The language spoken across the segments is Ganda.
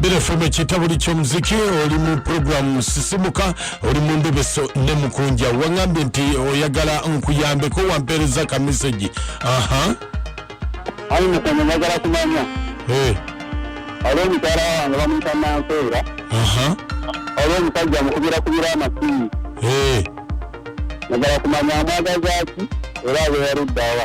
Bira FM ekitabo ky'omuziki oli mu programu sisimuka oli mu ndobeso ne mukunja wangambye nti oyagala nkuyambeko wampeereza ka message aha ayi mukama njagala kumanya eh. aliwo mukyala wange bamuyita nanseera aliwo omusajja mukubira kubira amasimu eh. njagala kumanya amwagazaaki era abeeruddawa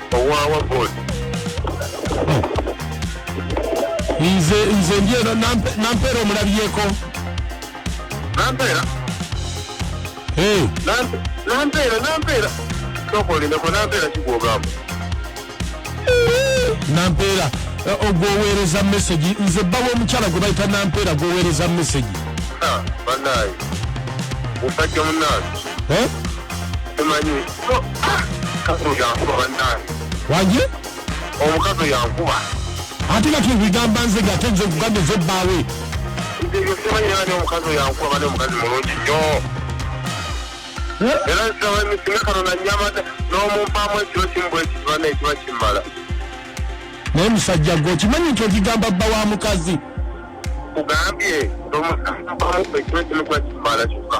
owawa god nze nze ndyeno nampeera omulabyeko nampeera nampeera nampeera tokolinako nampeera kigwogamba nampeera eh, ogwoweereza mesegi nze bba w'omukyala gwe bayita nampeera gwoweereza mesegi ah, banaye musajja munange eh? tumanyi wangi omukazi yankuba ate nga tubigamba nze nga ate nze okugamba eze bbaawe omukazi yankuba bane omukazi mulungi nyo era nsaba emisime kano nanyama n'omumpaamu ekiro kimu bwekiba nekiba kimala naye musajja gwe okimanyi nti okigamba bba wa mukazi kugambye omumpaamu ekiro kimu gwa kimala kyokka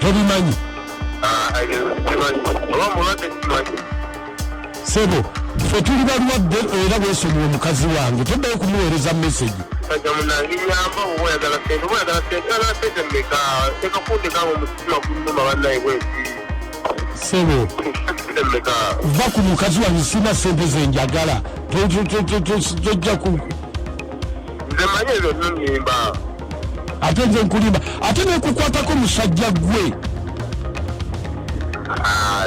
tobimanyi sebo fe tuli balwadde era wesonyiwa omukazi wange toddayo kumuweereza mesegi sebo va ku mukazi wange sina sente zenjagala tojja ku ate nze nkulimba ate nekukwatako musajja gwe ah,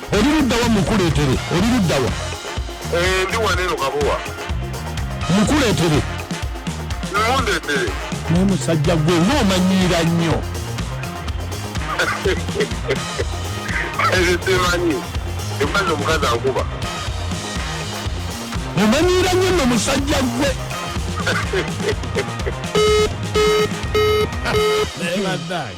Oli luddawa mukuleetere? Oli luddawa? Eh, ndi wano eno kabowa. Mukuleetere. Mundeetere. Naye musajja gwe ng'omanyiira nnyo. Ezo simanyi. Embazi omukazi ankuba. Omanyiira nnyo nno musajja gwe. Naye baddaye.